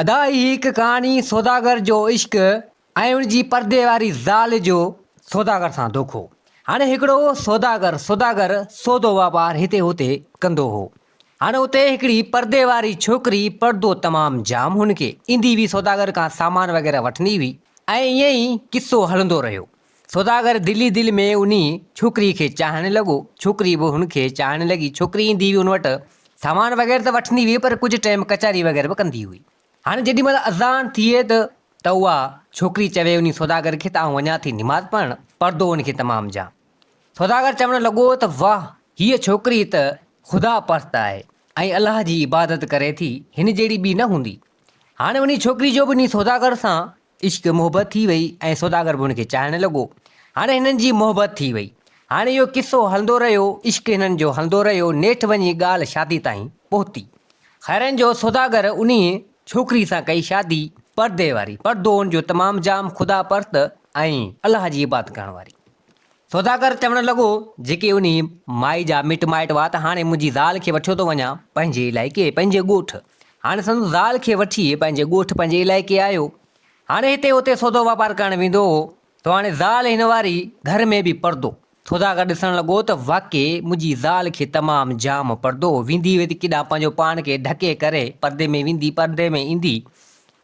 ادا هي هڪ ڪهاڻي سوداگر جو عشق ۽ ان جي پردي واري زال جو سوداگر سان دوکو. هاڻي هڪڙو سوداگر سوداگر سودو واپار هتي هتي ڪندو هو. هاڻي اتي هڪڙي پردي واري ڇوڪري پردو تمام جام هن کي ايندي هئي سوداگر کان سامان وغيره وٺندي هئي ۽ ائين ئي قصو هلندو رهيو. سوداگر دل ئي دل ۾ انهي ڇوڪريء کي چاهڻ لڳو، ڇوڪري به هن کي چاهڻ لڳي، ڇوڪري ايندي هئي هن وٽ سامان وغيره ته وٺندي هئي پر ڪجهه ٽيم ڪچهري وغيره به ڪندي هئي، هاڻي جيڏي مهل اذان ٿئي ته ته اها ڇوڪري چوي انهي سوداگر کي ته آئون وڃان ٿي نماز پڙهڻ، پردو هن کي تمام جام. سوداگر چوڻ لڳو ته واه هيء ڇوڪري ته خدا پرست آهي ۽ الله جي عبادت ڪري ٿي، هن جهڙي ٻي نه هوندي، هاڻي انهي ڇوڪري جو به انهي سوداگر سان عشق محبت ٿي وئي ۽ سوداگر به هن کي چاهڻ لڳو. هاڻي هنن جي محبت ٿي وئي. هاڻي اهو قصو هلندو رهيو، عشق هنن جو هلندو رهيو، نيٺ وڃي ڳالهه شادي تائين پهتي. خيرن جو سوداگر انهيء ڇوڪري سان ڪئي شادي، پردي واري، پردو ان جو تمام جام خدا پرست ۽ الله جي عبادت ڪرڻ واري. سوداگر چوڻ لڳو، جيڪي انهي مائي جا مٽ مائٽ هئا ته هاڻي منهنجي زال کي وٺيو ٿو وڃان پنهنجي علائقي، پنهنجي ڳوٺ. هاڻي سندس زال کي وٺي پنهنجي ڳوٺ، پنهنجي علائقي آيو. هاڻي هتي هتي سودو واپار ڪرڻ ويندو هو، سو هاڻي زال هن واري گهر ۾ به پردو. سوداگر ڏسڻ لڳو ته واقعي منهنجي زال کي تمام جام پردو هو، ويندي هئي ته ڪيڏانهن پنهنجو پاڻ کي ڍڪي ڪري پردي ۾ ويندي، پردي ۾ ايندي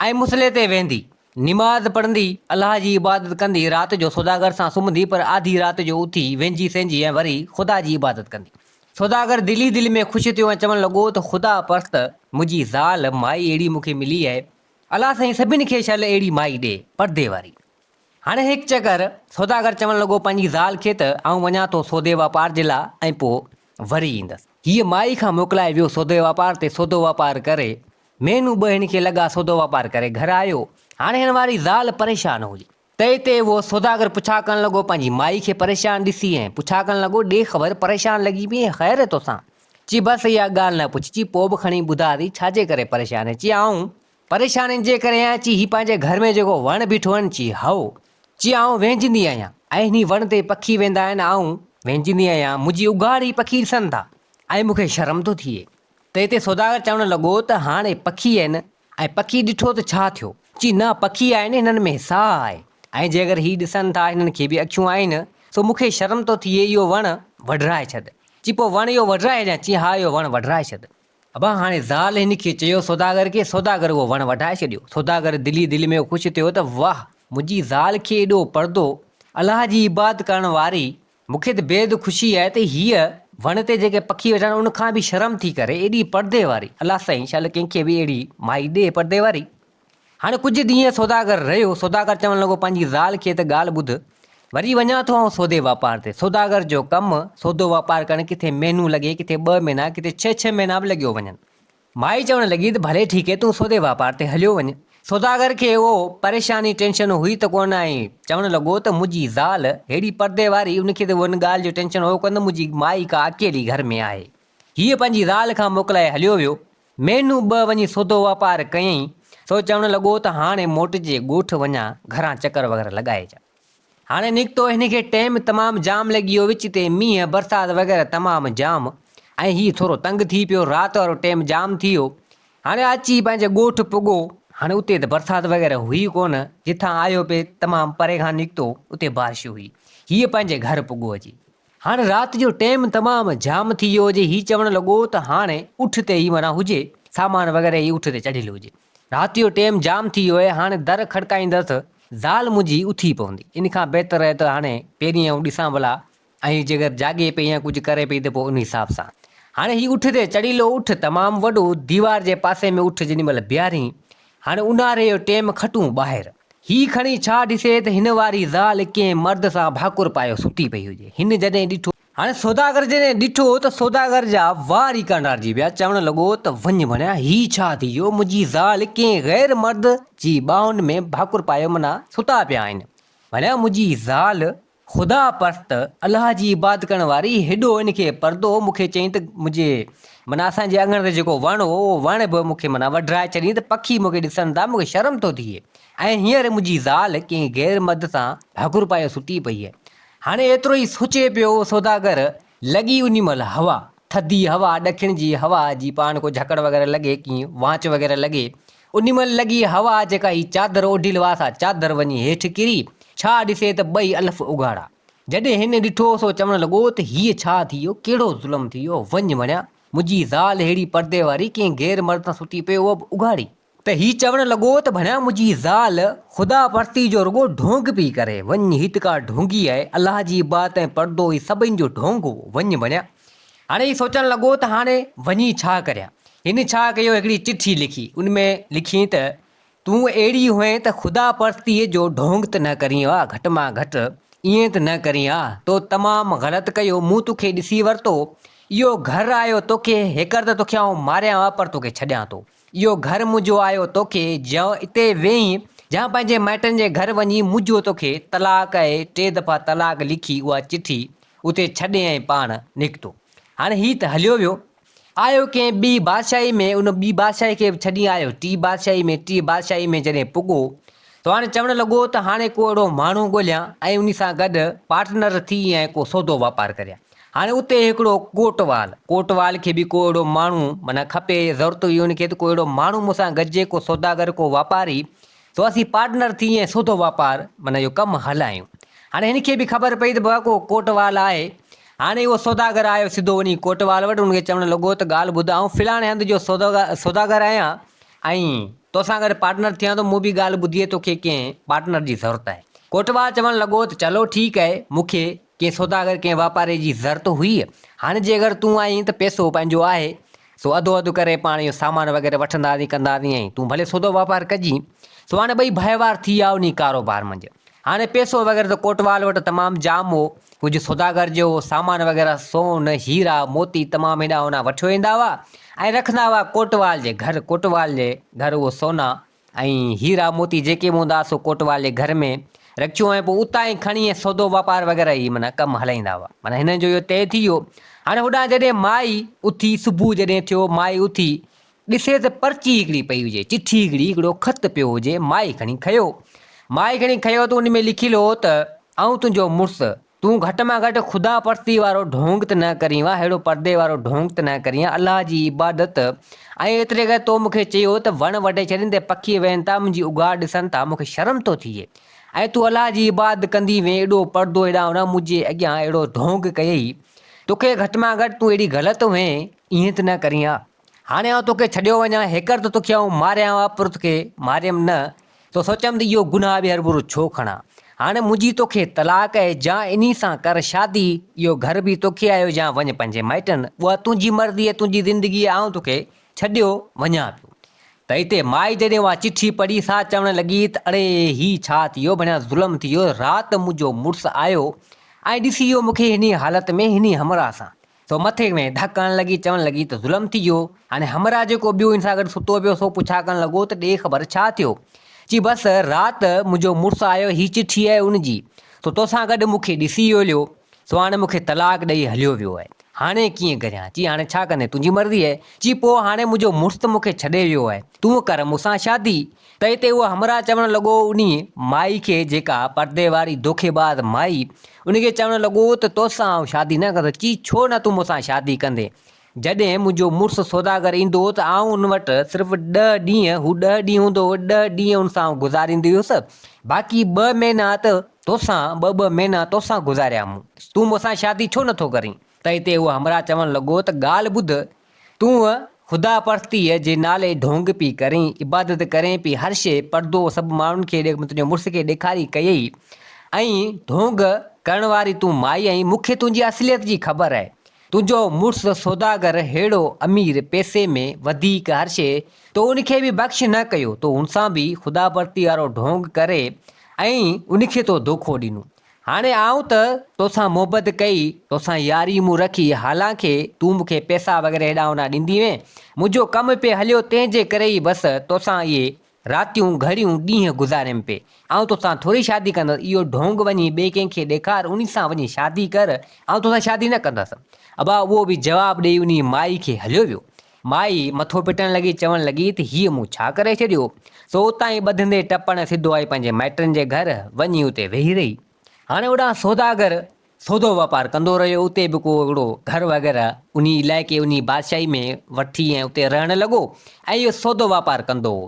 ۽ مصلي تي ويهندي. نماز پڙهندي، الله جي عبادت ڪندي، رات جو سوداگر سان سمهندي پر آڌي رات جو اٿي وينجهي سينجهي ۽ وري خدا جي عبادت ڪندي. سوداگر دل ئي دل ۾ خوش ٿيو ۽ چوڻ لڳو ته خدا پرست منهنجي زال، مائي اهڙي مون کي ملي آهي. الله سائين سڀن کي شل اهڙي مائي ڏي، پردي واري. هڻ هڪ چڪر، سوداگر چوڻ لڳو پنهنجي زال کي ته آئون وڃان ٿو سودي واپار جي لاء ۽ پوء وري ايندس. هيء مائي کان موڪلائي ويو سودي واپار تي سودو واپار ڪري مھينو ٻه ھن کي لڳا سودو واپار ڪري گھر آيو. ھاڻي ھن واري زال پريشان ھئي. تئي تي اھو سوداگر پڇا ڪرڻ لڳو پنھنجي مائي کي پريشان ڏسي ۽ پڇا ڪرڻ لڳو ڏي خبر پريشان لڳي پيئين خير توسان؟ چي بس اھا ڳالھ نه پڇ چي پوء به کڻي ٻڌاء ٿي ڇاجي ڪري پريشان آھين؟ چي آئون پريشان ان جي ڪري آھيان چي ھي پنھنجي گھر ۾ جيڪو وڻ بيٺو آھن چي ھئو چي آئون ويھجندي آھيان ۽ ھن وڻ تي پکي ويھندا آھن آئون ويھجندي آھيان منھنجي اگھاڙ ھي پکي ڏسن ٿا ۽ مون کي شرم ٿو ٿئي تنهن تي سوداگر چوڻ لڳو ته هاڻي پکي آهن ۽ پکي ڏٺو ته ڇا ٿيو؟ چي نه پکي آهن هنن ۾ ساهه آهي ۽ جي اگر هي ڏسن ٿا هنن کي به اکيون آهن سو مون کي شرم ٿو ٿئي اهو وڻ وڍرائي ڇڏ. چي پوء وڻ اهو وڍرائي ڇڏيان؟ چي ها اهو وڻ وڍرائي ڇڏ. ابا هاڻي زال هن کي چيو سوداگر کي، سوداگر اهو وڻ وڍائي ڇڏيو. سوداگر دل ئي دل ۾ خوش ٿيو ته واه منهنجي زال کي ايڏو پردو الله جي عبادت ڪرڻ واري مون کي ته بيحد خوشي آهي ته هيء وڻ تي جيڪي پکي ويٺا آهن ان کان به شرم ٿي ڪري ايڏي پردي واري الله سائين شال ڪنهن کي به اهڙي مائي ڏي پردي واري. هاڻي ڪجهه ڏينهن سوداگر رهيو سوداگر چوڻ لڳو پنهنجي زال کي ته ڳالهه ٻڌ وري وڃان ٿو آئون سودي واپار تي سوداگر جو ڪم سودو واپار ڪرڻ ڪٿي مهنو لڳي ڪٿي ٻه مهنا ڪٿي ڇهه ڇهه مهنا به لڳيو وڃن مائي چوڻ لڳي ته ڀلي ٺيڪي تون سودي واپار تي هليو وڃ. سوداگر کي اهو پريشاني ٽينشن هئي ته ڪونه آهي. چوڻ لڳو ته منهنجي زال ههڙي پردي واري ان کي ته ان ڳالهه جو ٽينشن هو ڪونه منهنجي مائي ڪا اڪيلي گهر ۾ آهي. هيء پنهنجي زال کان موڪلائي هليو ويو. مهينو ٻه وڃي سودو واپار ڪيائين سو چوڻ لڳو ته هاڻي موٽجي ڳوٺ وڃان گهران چڪر وغيره لڳائي اچان. هاڻي نڪتو هن کي ٽيم تمام جام لڳي ويو وچ تي مينهن برسات وغيره تمام جام ۽ هي ٿورو تنگ ٿي پيو رات وارو ٽيم جام ٿي ويو هاڻي اچي پنهنجي ڳوٺ پڳو هاڻي اتي ته برسات وغيره هئي ڪون جتان آيو پي تمام پري کان نڪتو اتي بارش هئي هيء پنهنجي گهر پڳو اچي هاڻ رات جو ٽيم تمام جام ٿي ويو هجي، هي چوڻ لڳو ته هاڻ اٺ تي ئي معنيٰ هجي، سامان وغيره ئي اٺ تي چڙهيل هجي. رات جو ٽيم جام ٿي ويو آهي، هاڻ در کڙڪائيندس ته زال منهنجي اٿي پوندي، ان کان بهتر آهي ته هاڻ پهرين آئون ڏسان ڀلا ۽ جيڪر جاڳي پئي يا ڪجهه ڪري پئي ته پوء ان حساب سان. هاڻ هي اٺ تي چڙهيل هو، اٺ تمام وڏو، ديوار جي پاسي ۾ اٺ جيڏي مهل بيهارين هاڻي اونهاري جو ٽيم کٽون ٻاهر. هي کڻي ڇا ڏسي ته هن واري زال ڪنهن مرد سان ڀاڪر پايو سٺي پئي هجي. هن جڏهن ڏٺو. هاڻي سوداگر جڏهن ڏٺو ته سوداگر جا وار ئي ڪانڊارجي ويا. چوڻ لڳو ته وڃ ڀڻيا هي ڇا ٿي ويو. منهنجي زال ڪنهن غير مرد جي ٻانهن ۾ ڀاڪر پايو منا ستا پيا آهن. ڀڻيا منهنجي زال خدا پرست الله جي عبادت ڪرڻ واري هيڏو ان کي پردو هو مون کي چيائين ته منهنجي معنيٰ اسان جي اڱڻ تي جيڪو وڻ هو اهو وڻ به مون کي معنيٰ وڍرائي ڇڏيائين ته پکي مون کي ڏسن ٿا مون کي شرم ٿو ٿئي ۽ هينئر منهنجي زال ڪنهن غير مرد سان هڪر پايو ستي پئي آهي هاڻي ايترو ئي سوچي پيو هو سوداگر لڳي انهي مهل هوا ٿڌي هوا ڏکڻ جي هوا جي پاڻ ڪو جهڪڙ وغيره لڳي ڪي وانچ وغيره لڳي انھي مھل لڳي ھوا جيڪا ھي چادر اوڍيل ھئا سا چادر وڃي ھيٺ ڪري ڇا ڏسي ته ٻئي الف اگھاڙا. جڏھن ھن ڏٺو سو چوڻ لڳو ته ھيء ڇا ٿي ويو ڪھڙو ظلم ٿي ويو وڃ وڻيا منھنجي زال ھھڙي پردي واري ڪنھن غير مرد سان ستي پئي اھا به اگھاڙي. ته ھي چوڻ لڳو ته ڀڻيا منھنجي زال خدا پرستي جو رڳو ڍونگ پئي ڪري وڃ ھي ته ڪا ڍونگي آھي الله جي عبادت ۽ پردو ھي سڀني جو ڍونگ ھو وڃ وڻيا. هاڻي هي سوچڻ لڳو ته هاڻي وڃي ڇا ڪريان؟ هن ڇا ڪيو هڪڙي چٺي لکي ان ۾ لکيئين ته تون اهڙي هئين ته خدا پرستيء جو ڍونگ ته نه ڪرين ها گهٽ مان گهٽ ائين ته نه ڪرين ها تو تمام غلط ڪيو مون توکي ڏسي ورتو اهو گهر آيو توکي هيڪر ته توکي آئون ماريان ها پر توکي ڇڏيان ٿو. اهو گهر منهنجو آهيو توکي جيئن اتي ويهين جيئن پنهنجي مائٽن جي گهر وڃين منهنجو توکي طلاق اهي ٽي دفعا طلاق لکي اها چٺي اتي ڇڏي ۽ پاڻ نڪتو هاڻي هي ته هليو ويو آهيو ڪنهن ٻي بادشاهي ۾ ان ٻي بادشاهي کي به ڇڏي آهيو ٽي بادشاهي ۾ ٽي بادشاهي ۾ جڏهن پڳو ته هاڻي چوڻ لڳو ته هاڻي ڪو اهڙو ماڻهو ڳوليان ۽ انهي سان گڏ پارٽنر ٿي ۽ ڪو سودو واپار ڪريان هاڻي اتي هڪڙو ڪوٽوال، ڪوٽوال کي به ڪو اهڙو ماڻهو معنيٰ کپي، ضرورت هئي ان کي ته ڪو اهڙو ماڻهو مون سان گڏجي، ڪو سوداگر، ڪو واپاري، سو اسين پارٽنر ٿي ۽ سوڌو واپار معنيٰ اهو ڪم هلايون. هاڻي هن کي به خبر پئي ته بابا ڪو ڪوٽوال آهي. هاڻي اهو سوداگر آيو سڌو وڃي ڪوٽوال وٽ، ان کي چوڻ لڳو ته ڳالهه ٻڌ آئون فلاڻي هنڌ جو سوداگر آهيان ۽ تو سان گڏ پارٽنر ٿيان ٿو، مون به ڳالهه ٻڌي آهي توکي ڪنهن پارٽنر جي ضرورت آهي. ڪوٽوال چوڻ لڳو ته چلو ٺيڪ آهي، مون کي ڪنهن سوداگر ڪنهن واپاري جي ضرت هئي، هاڻ جي اگر تون آهين ته پئسو پنهنجو آهي، سو اڌو اڌ ڪري پاڻ اهو سامان وغيره وٺنداسين ڪنداسين ۽ تون ڀلي سودو واپار ڪجين. سو هاڻ ٻئي ڀائيوار ٿي ويا انهي ڪاروبار منجهه. هاڻ پئسو وغيره ته ڪوٽوال وٽ تمام جام هو، ڪجهه سوداگر جي هو سامان وغيره سون، هيرا، موتي تمام هيڏانهن هونئن وٺيو ايندا هئا ۽ رکندا هئا ڪوٽوال جي گهر، ڪوٽوال جي گهر اهو سونا ۽ هيرا موتي جيڪي به هوندا سو ڪوٽوالي گهر ۾ رکيو ۽ پوء اتان ئي کڻي ۽ سودو واپار وغيره هي معنيٰ ڪم هلائيندا هئا. معنيٰ هنن جو اهو طئي ٿي ويو. هاڻي هوڏانهن جڏهن مائي اٿي، صبح جڏهن ٿيو مائي اٿي ڏسي ته پرچي هڪڙي پئي هجي، چٺي هڪڙي، هڪڙو خط پيو هجي، مائي کڻي کنيو. مائي کڻي کنيو ته ان ۾ لکيل هو ته آئون تنهنجو مڙس تون گهٽ مان گهٽ خدا پرستيء وارو ڍونگ ته نه ڪرين ها، اهڙو پردي وارو ڍونگ ته نه ڪرين ها، الله جي عبادت ۽ ايتري ڪري تو مون کي چيو ته وڻ وڍي ڇڏين ته پکي ويهن ٿا، منهنجي اگهاڙ ڏسن ٿا، مون کي شرم ٿو ٿئي ۽ تون الله جي عبادت ڪندي وئين ايڏو پردو ايڏانهن نه منهنجي اڳيان اهڙو ڍونگ ڪيئي، توکي گهٽ مان گهٽ تون اهڙي غلط وئين ايئن ته نه ڪرين ها. هاڻي آئون توکي ڇڏيو وڃان، هيڪر ته توکي آئون ماريان ها پر توکي ماريم نه، تو سوچيم ته اهو گناهه به هرڀرو ڇو کڻان. هاڻي منهنجي توکي طلاق اهي جا انهي سان ڪر شادي، اهو گهر به توکي آهي جا وڃ پنهنجي مائٽن، اها تنهنجي مرضي اهي تنهنجي زندگي اهي آئون توکي ڇڏيو وڃان پيو. ته اتي مائي جڏهن اها چٺي پڙهي سا چوڻ لڳي ته اڙي هي ڇا ٿي ويو ڀڻيا ظلم ٿي ويو، رات منهنجو مڙس آيو ۽ ڏسي ويو مونکي هني حالت ۾ هني همراهه سان، سو مٿي ۾ ڌڪ هڻڻ لڳي، چوڻ لڳي ته ظلم ٿي ويو. هاڻي همراهه جيڪو ٻيو هن سان گڏ ستو پيو، سو پڇا ڪرڻ لڳو ته ڏي خبر ڇا ٿيو؟ چي بس رات منهنجو مڙس آيو، هي چٺي آهي ان جي، سو توسان گڏ مون کي ڏسي ويليو، سو هاڻي مون کي طلاق ڏئي هليو ويو آهي. هاڻي ڪيئن ڪريان؟ چي هاڻي ڇا ڪندين؟ تنهنجي مرضي آهي. چي پوء هاڻي منهنجو مڙس ته مون کي ڇڏي ويو آهي، تون ڪر مون سان شادي. تنهن تي اهو همراهه چوڻ لڳو انهيء مائي کي جيڪا پردي واري دوکي باز مائي ان کي چوڻ لڳو ته تو سان آئون شادي نه ڪندس چي ڇو نه تون مون سان شادي ڪندين جڏهن منهنجو مڙس سوداگر ايندو ته آئون ان وٽ صرف ڏهه ڏينهن هو ڏهه ڏينهن هوندو هو ڏهه ڏينهن ان سان آئون گذاريندي هيس باقي ٻه مهينا ته تو سان ٻه ٻه مهينا تو سان گذاريا مون تون مون سان شادي ڇو نه ٿو ڪرين؟ تنهن تي اهو همراهه چوڻ لڳو ته ڳالهه ٻڌ تون خدا پرستيء جي نالي ڍونگ پئي ڪرين، عبادت ڪرين پئي هر شيء، پردو سڀ ماڻهن کي ڏي، مون تنهنجي مڙس کي ڏيکاري ڪيئي ۽ ڍونگ ڪرڻ واري تون مائي آهين، مون کي تنهنجي اصليت جي خبر آهي، تنهنجو مڙس سوداگر ههڙو امير، پئسي ۾ وڌيڪ هر شيء، تو ان کي به بخش نه ڪيو، تو هن سان به خدا پرستيء وارو ڍونگ ڪري ۽ ان کي تو دوکو ڏنو. هاڻي آئون ته توسان محبت ڪئي، توسان ياري مون رکي، حالانڪه تون مون کي پئسا وغيره هيڏانهن هوڏانهن ڏيندي هئين، منهنجو ڪم پئي هليو، تنهن جي ڪري ئي بس توسان اهي راتيون، گهڙيون، ڏينهن گذاريم پئي. آئون توسان ٿوري شادي ڪندس، اهو ڍونگ وڃي ٻئي ڪنهن کي ڏيکار، انهي سان وڃي شادي ڪر، آئون توسان شادي نه ڪندس. ابا اهو به جواب ڏيئي انهي مائي کي هليو ويو. مائي مٿو پٽڻ لڳي چوڻ لڳي ته هيء مون ڇا ڪري ڇڏيو؟ سو اتان ئي ٻڌندي ٽپڻ سڌو آئي پنهنجي مائٽن جي گهر وڃي اتي ويهي رهي. هاڻي اوڏانهن سوداگر سودو واپار ڪندو رهيو اتي به ڪو هڪڙو گهر وغيره انهي علائقي انهي بادشاهي ۾ وٺي ۽ اتي رهڻ لڳو ۽ اهو سودو واپار ڪندو هو.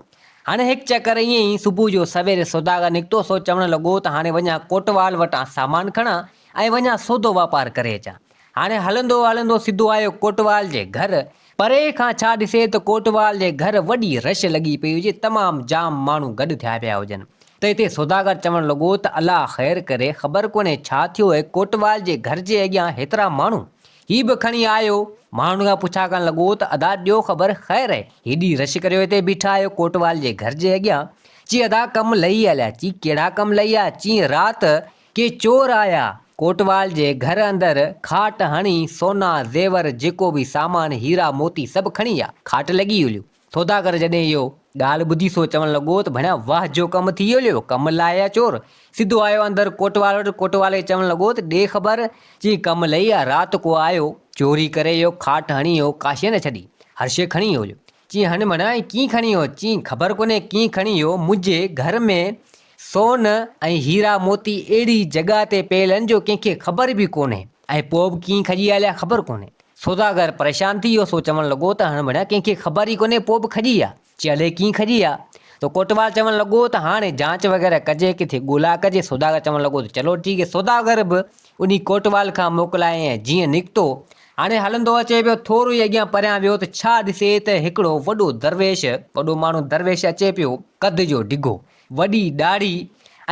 هاڻي هڪ چڪر ائين ئي صبح جو سويري سوداگر نڪتو سو چوڻ لڳو ته هاڻي وڃان ڪوٽوال وٽان سامان کڻان ۽ وڃان سودو واپار ڪري اچان. هاڻي هلندو هلندو سڌو آيو ڪوٽوال جي گهر. پري کان ڇا ڏسي ته ڪوٽوال جي گهر وڏي رش لڳي پئي هجي، تمام جام ماڻهو گڏ ٿيا پيا هجن ته هتي سوداگر چوڻ لڳو ته الله خير ڪري، خبر ڪونهي ڇا ٿيو اهي ڪوٽوال جي گهر جي اڳيان هيترا ماڻهو هي به کڻي آيو. ماڻهن کان پڇا ڪرڻ لڳو ته ادا ڏيو خبر خير اهي هيڏي رش ڪريو هتي بيٺا آهيو ڪوٽوال جي گهر جي اڳيان؟ چي ادا ڪم لهي هليا، چي ڪهڙا ڪم لهي آيا؟ چي رات ڪي چور آيا، ڪوٽوال جي گهر اندر کاٽ هڻي سونا، زيور، جيڪو به سامان، هيرا موتي سڀ کڻي ويا. کاٽ لڳي هليو. ٿوداڪر جڏهن اهو ڳالهه ٻڌي سو چوڻ لڳو ته ڀڻيا واه جو ڪم ٿي هليو، ڪم لائي آيا چور. سڌو آيو اندر ڪوٽوال وٽ، ڪوٽوال کي چوڻ لڳو ته ڏي خبر چئين ڪم لئي آ، رات ڪو آيو، چوري ڪري ويو، کاٽ هڻي ويو، ڪا شيء نه ڇڏي، هر شيء کڻي ويو هليو. چئين هنڊ ڀڻيا ائين ڪيئن کڻي ويو؟ چئين خبر ڪونهي ڪيئن کڻي ويو، منهنجي گهر ۾ سون ۽ هيرا موتي اهڙي جڳهه تي پيل آهن جو ڪنهن کي خبر به ڪونهي ۽ پوء به ڪيئن کڄي آيا خبر ڪونهي. سوداگر پريشان ٿي ويو سو چوڻ لڳو ته هڻ ڀڻيا ڪنهن کي خبر ئي ڪونهي پوء به کڄي آ چي الئي ڪيئن کڄي آ ته ڪوٽوال چوڻ لڳو ته هاڻي جانچ وغيره ڪجي ڪٿي ڳولا ڪجي سوداگر چوڻ لڳو ته چلو ٺيڪ هي سوداگر به انهي ڪوٽوال کان موڪلائين ۽ جيئن نڪتو هاڻي هلندو اچي پيو ٿورو ئي اڳيان پريان ويو ته ڇا ڏسي ته هڪڙو وڏو درويش وڏو ماڻهو درويش اچي پيو قد جو ڊگهو. وڏي ڏاڙهي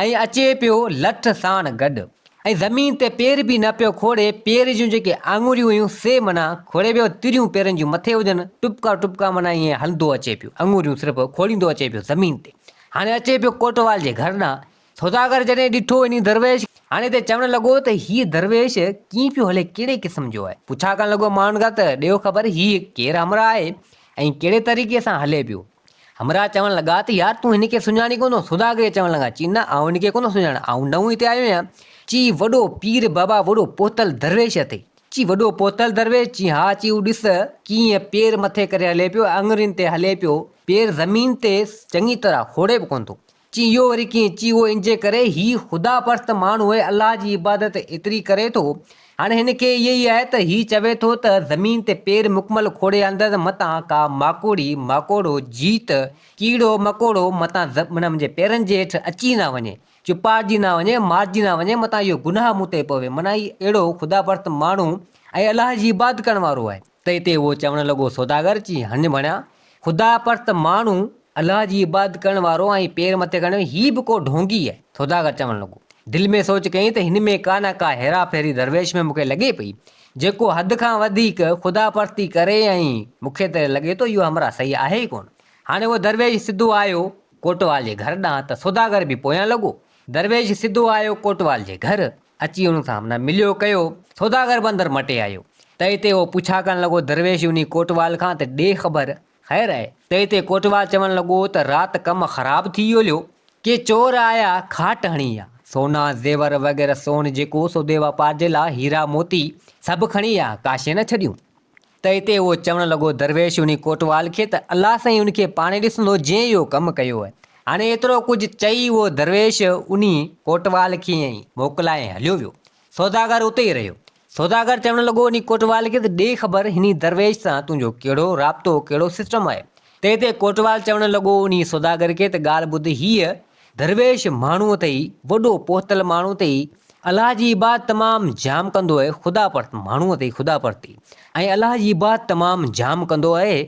۽ اچي پيو لٺ ساڻ گڏ ۽ زمين تي پير به نه پيو کوڙي، پير جون جيڪي آڱريون هيون سي معنيٰ کوڙي ويو، تريون پيرن جون مٿي هجن، ٽٻڪا ٽٻڪا معنيٰ ائين هلندو اچي پيو، آڱريون صرف کوڙيندو اچي پيو زمين تي، هاڻي اچي پيو ڪوٽوال جي گهر ڏانهن، سوداگر جڏهن ڏٺو انهي درويش کي، هاڻي ته چوڻ لڳو ته هيء درويش ڪيئن پيو هلي ڪهڙي قسم جو آهي، پڇا ڪرڻ لڳو ماڻهن کان ته ڏيو خبر هيء ڪير همراهه آهي ۽ ڪهڙي طريقي سان هلي پيو، همراهه چوڻ لڳا ته يار تون هن کي سڃاڻين ڪونه؟ سوداگري چوڻ لڳا، چي نه آئون هن کي ڪونه سڃاڻان، آئون نئون هتي آيو آهيان. چي وڏو پير بابا وڏو پهتل درويش اٿئي؟ چي وڏو پهتل درويش؟ چي ها، چي هو ڏس ڪيئن پير مٿي ڪري هلي پيو ۽ اڱرين تي هلي پيو، پير زمين تي چڱي طرح ڦوڙي به ڪونه ٿو. چي اهو وري ڪيئن؟ چي اهو انجي ڪري، هي خدا پرست ماڻهو الله جي عبادت ايتري ڪري ٿو، هاڻي هن کي اهي ئي آهي ته هي چوي ٿو ته زمين تي پير مڪمل کوڙي آندس، متان ڪا ماڪوڙي، ماڪوڙو، جيت، ڪيڙو، مڪوڙو، متان منهنجي پيرن جي هيٺ اچي نه وڃي، چپاڙجي نه وڃي، مارجي نه وڃي، متان اهو گناهه مون تي پوي، معنيٰ هي اهڙو خدا پرست ماڻهو ۽ الله جي عبادت ڪرڻ وارو آهي. تنهن تي اهو چوڻ لڳو، سوداگر چي، هنڃ ڀڻيا! خدا پرست ماڻهو، الله جي عبادت ڪرڻ وارو ۽ پير مٿي ڪرڻ وارو، هي به ڪو ڍونگي آهي. سوداگر چوڻ لڳو، دل ۾ سوچ ڪيائين ته هن ۾ ڪا نه ڪا هيرا ڦيري درويش ۾ مون کي لڳي پئي. جيڪو حد کان وڌيڪ خدا پرستي ڪري ۽ مون کي ته لڳي ٿو اهو همراهه صحيح آهي ئي ڪونه. هاڻي اهو درويش سڌو آيو ڪوٽوال جي گهر ڏانهن ته سوداگر به پويان لڳو درويش سڌو آيو ڪوٽوال جي گهر، اچي ان سان همنا مليو ڪيو، سوداگر به اندر مٽي آيو، تئي تي هو پڇا ڪرڻ لڳو درويش انهي ڪوٽوال کان ته ڏي خبر خير آهي، تئي تي ڪوٽوال چوڻ لڳو ته رات ڪم خراب ٿي ويو ليو، ڪي چور آيا کاٽ هڻي ويا، سونا زيور وغيره سون جيڪو سودي واپار جي لا هيرا موتي سڀ کڻي ويا، ڪاشي نه ڇڏيون. ته اتي اهو چوڻ لڳو درويش انهي ڪوٽوال کي ته الله سائين ان کي پاڻهي ڏسندو جنهن اهو ڪم ڪيو آهي. هاڻي ايترو ڪجهه چئي اهو درويش انهي ڪوٽوال کي ائين ئي موڪلائي هليو ويو. سوداگر اتي ئي رهيو. سوداگر چوڻ لڳو انهي ڪوٽوال کي ته ڏي خبر هني درويش سان تنهنجو ڪهڙو رابطو ڪهڙو سسٽم آهي. ته اتي ڪوٽوال چوڻ لڳو انهي سوداگر کي ته ڳالهه ٻڌ هيء درويش ماڻهوء تي ئي، وڏو پهتل ماڻهوء تي ئي، الله جي عبادت تمام جام ڪندو آهي، خدا پرست ماڻهوء تي ئي، خدا پرست ئي ۽ الله جي عبادت تمام جام ڪندو آهي.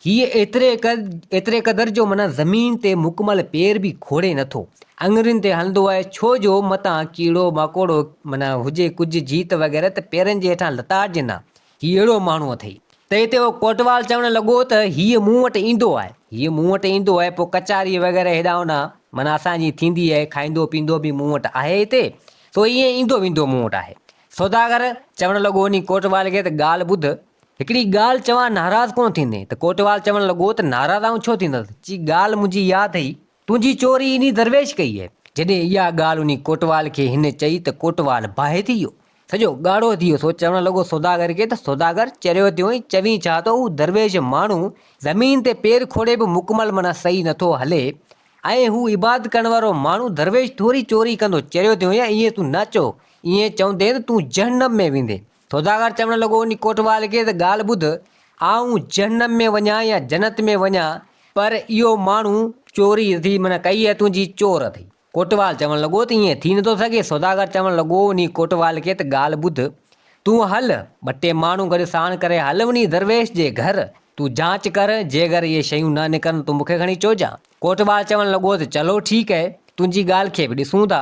هيء ايتري قد، ايتري قدر جو معنيٰ زمين تي مڪمل پير به کوڙي نه ٿو، اڱرين تي هلندو آهي، ڇو جو متان ڪيڙو ماڪوڙو معنيٰ هجي ڪجهه جيت وغيره ته پيرن جي هيٺان لتاڙجن ها، هي اهڙو ماڻهو اٿئي. تنهن تي اهو ڪوٽوال چوڻ لڳو ته هيء مون وٽ ايندو آهي. هيء مون وٽ ايندو آهي، پوء ڪچهري وغيره هيڏانهن هوڏانهن معنيٰ اسان جي ٿيندي آهي، کائيندو پيئندو به مون وٽ آهي هتي، سو ائين ايندو ويندو مون وٽ آهي. سوداگر چوڻ لڳو انهي ڪوٽوال کي ته ڳالهه ٻڌ، هڪڙي ڳالهه چوان ناراض ڪونه ٿيندين؟ ته ڪوٽوال چوڻ لڳو ته ناراض آئون ڇو ٿيندس، چي ڳالهه منهنجي اها اٿئي تنهنجي چوري انهي درويش ڪئي اهي. جڏهن اها ڳالهه انهي ڪوٽوال کي هن چئي ته ڪوٽوال باهه ٿي ويو. سڄو ڳاڙهو ٿي ويو. سو چوڻ لڳو سوداگر کي ته سوداگر چريو ٿيو ۽ چوين ڇا ٿو هو درويش ماڻهو زمين تي پير کوڙي به مڪمل معنيٰ صحيح نه ٿو هلي ۽ هو عبادت ڪرڻ وارو ماڻهو درويش ٿوري چوري ڪندو چريو ٿيو ۽ ائين تون نه چئو ائين چوندين تون جهنم ۾ ويندين سوداگر چوڻ لڳو، انهي ڪوٽوال کي ته ڳالهه ٻڌ، آئون جهنم ۾ وڃان يا جنت ۾ وڃان، پر اهو ماڻهو چوري اٿئي معنيٰ ڪئي اهي تنهنجي چور اٿئي. ڪوٽوال چوڻ لڳو ته ائين ٿي نٿو سگهي. سوداگر چوڻ لڳو، انهي ڪوٽوال کي ته ڳالهه ٻڌ، تون هل، ٻه ٽي ماڻهو گڏ ساڻ ڪري هل انهي درويش جي گهر، تون جانچ ڪر، جيڪر اهي شيون نه نڪرن تون مون کي کڻي چوجانء. ڪوٽوال چوڻ لڳو ته چلو ٺيڪ اهي، تنهنجي ڳالهه کي به ڏسون ٿا.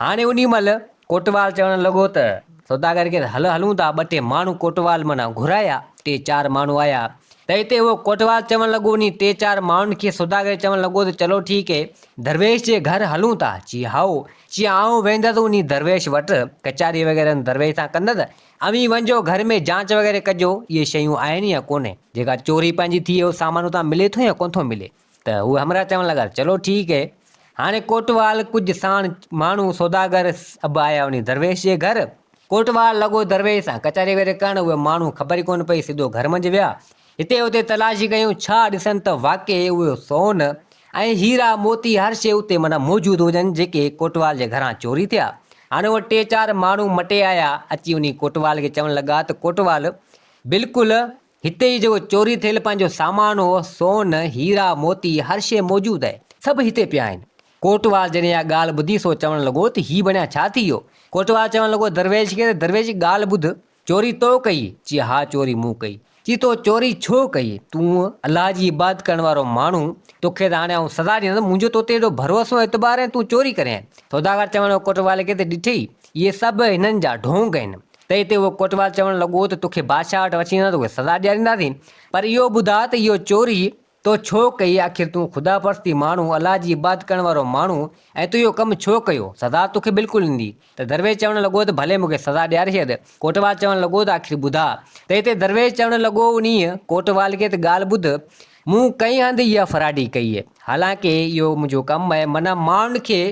هاڻي انهي مهل ڪوٽوال چوڻ لڳو ته سوداگر کيس هل هلون ٿا، ٻه ٽي ماڻهو ڪوٽوال منان گهرايا، ٽي چار ماڻهو آيا ته هتي اهو ڪوٽوال چوڻ لڳو انهي ٽي چار ماڻهن کي سوداگر چوڻ لڳو ته چلو ٺيڪ اهي، درويش جي گهر هلون ٿا، چي هائو، چي آئون ويندس انهي درويش وٽ، ڪچهري وغيره درويش سان ڪندس، اوهين وڃجو گهر ۾ جانچ وغيره ڪجو، اهي شيون آهن يا ڪونهي، جيڪا چوري پنهنجي ٿئي اهو سامان اتان ملي ٿو يا ڪونه ٿو ملي. ته هو همراهه چوڻ لڳا، چلو ٺيڪ هي. هاڻي ڪوٽوال ڪجهه ساڻ ماڻهو سوداگر سڀ آيا وڃي درويش جي گهر. ڪوٽوال لڳو درويش سان ڪچهري ويري ڪرڻ، اهي ماڻهو خبر ئي ڪونه پئي سڌو گهر منجهه ويا. هتي هتي تلاشي ڪيون، ڇا ڏسن ته واقعي اهو سون ۽ هيرا موتي هر شيء اتي معنيٰ موجود هجن جيڪي ڪوٽوال جي گهران چوري ٿيا. هاڻي اهي ٽي چار ماڻهو مٽي آيا اچي وڃي ڪوٽوال کي چوڻ لڳا ته ڪوٽوال بلڪل هتي ئي جيڪو چوري ٿيل پنهنجو سامان هو، سون، هيرا، موتي، هر شيء موجود آهي. سڀ هتي پيا آهن. ڪوٽوال جڏهن اها ڳالهه ٻڌي سو چوڻ لڳو ته هي بڻيا ڇا ٿي ويو؟ ڪوٽوال چوڻ لڳو درويش کي ته درويش ڳالهه ٻڌ، چوري تو ڪئي؟ چي ها چوري مون ڪئي. چي تو چوري ڇو ڪئي؟ تون الله جي عبادت ڪرڻ وارو ماڻهو، توکي ته هاڻي آئون سزا ڏيندس، منهنجو توتي ايڏو ڀروسو ۽ اعتبار ۽ تون چوري ڪرين. سوداگر چوڻ لڳو ڪوٽوال کي ته ڏٺئي، اهي سڀ هنن جا ڍونگ آهن. تنهن تي اهو ڪوٽوال چوڻ لڳو ته توکي بادشاهه وٽ وٺي وينداسين توکي سزا ڏيارينداسين پر اهو ٻڌاء ته اهو چوري تو ڇو ڪئي آخر تون خدا پرستي ماڻهو الله جي عبادت ڪرڻ وارو ماڻهو ۽ تون اهو ڪم ڇو ڪيو سزا توکي بلڪل ايندي ته درويش چوڻ لڳو ته ڀلي مونکي سزا ڏياري ڇڏ ڪوٽوال چوڻ لڳو ته آخر ٻڌاء تنهن تي درويش چوڻ لڳو انهيء ڪوٽوال کي ته ڳالهه ٻڌ مون ڪنهن هنڌ اها فراڊي ڪئي حالانڪه اهو منهنجو ڪم آهي منان ماڻهن کي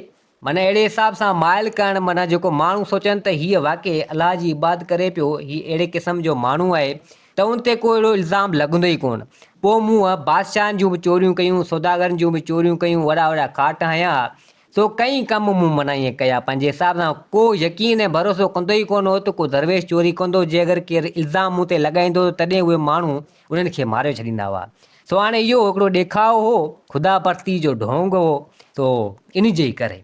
معنيٰ اهڙي حساب سان مائل ڪرڻ معنيٰ جيڪو ماڻهو سوچن ته هيء واقعي الله جي عبادت ڪري پيو، هي اهڙي قسم جو ماڻهو آهي ته ان تي ڪو اهڙو الزام لڳندو ئي ڪونه. پوء مون بادشاهن جون به چوريون ڪيون، سوداگرن جون به چوريون ڪيون، وڏا وڏا ڪاٽ هنيا ها. سو ڪئين ڪم مون معنيٰ ائين ڪيا، پنهنجي حساب سان. ڪو يقين ۽ ڀروسو ڪندو ئي ڪونه هو ته ڪو درويش چوري ڪندو، جي اگر ڪير الزام مون تي لڳائيندو ته تڏهن اهي ماڻهو انهن کي ماري ڇڏيندا هئا. سو هاڻي اهو هڪڙو ڏيکاء هو، خدا پرستيء جو ڍونگ هو، سو انهي جي ئي ڪري.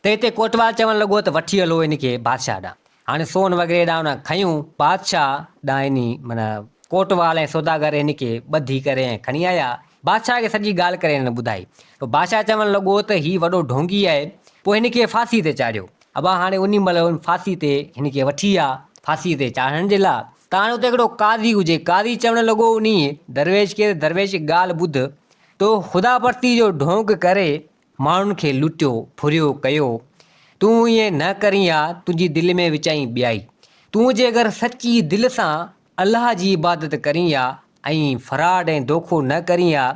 ته هتي ڪوٽوال چوڻ لڳو ته وٺي هلو انهي کي بادشاهه ڏانهن. هاڻي سون وغيري ڏانهن انهن کنيون، بادشاهه ڏانهن انهي، معنيٰ ڪوٽوال ۽ سوداگر انهي کي ٻڌي ڪري ۽ کڻي آيا. بادشاهه کي سڄي ڳالهه ڪري انهن ٻڌائي. پوء بادشاهه چوڻ لڳو ته هي وڏو ڍونگي آهي، پوء هن کي ڦاسيء تي چاڙهيو. ابا هاڻي انهي مهل هن ڦاسيء تي هن کي وٺي آ، ڦاسيء تي چاڙهڻ جي لاء، ڪاڻ اتي هڪڙو قاضي هجي. قاضي چوڻ لڳو، انهيء درويش کي ته درويش هڪ ڳالهه ٻڌ، تو خدا پرستيء جو ڍونگ ڪري ماڻهن کي لٽيو، ڦريو ڪيو، تون ائين نه ڪرين ها، تنهنجي دل ۾ وچائين ٻيائي. تون جيڪر سچي دل سان الله جي عبادت ڪرين ها، ۽ فراڊ ۽ دوکو نه ڪرين ها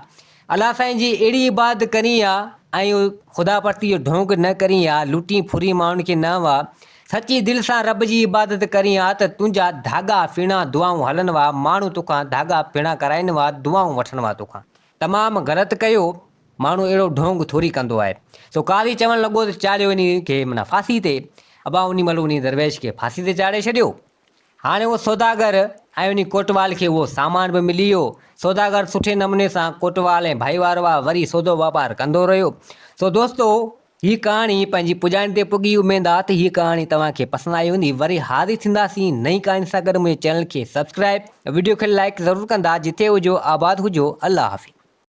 الله سائين جي اهڙي عبادت ڪرين ها ۽ خدا پرستي جو ڍونگ نه ڪرين ها لٽين ڦرين ماڻهن کي نه وا سچي دل سان رب جي عبادت ڪرين ها ته تنهنجا ڌاڳا ڦيڻا دعائون هلن وا ماڻهو توکان ڌاڳا ڦيڻا ڪرائين وا دعائون وٺن وا توکان تمام غلط ڪيو ماڻهو اهڙو ڍونگ ٿوري ڪندو آهي سو قاضي چوڻ لڳو ته چاڙهيو انهي کي معنيٰ ڦاسي تي ابا انهي مهل انهي درويش کي ڦاسي تي چاڙهي ڇڏيو هاڻي اهو سوداگر ۽ انهي ڪوٽوال کي اهو سامان به ملي ويو. سوداگر سٺي نموني سان ڪوٽوال ۽ ڀائيوارواهه وري سودو واپار ڪندو رهيو. سو دوستو هي ڪهاڻي پنهنجي پڄاڻي تي پڳي اميد آ ته هي ڪهاڻي توهان کي پسند آئي هوندي. وري حاضر ٿينداسين نئين ڪهاڻين سان گڏ منهنجي چينل کي سبسڪرائيب ۽ وڊيو کي لائيڪ ضرور ڪندا جتي هجو آباد هجو الله حافظ.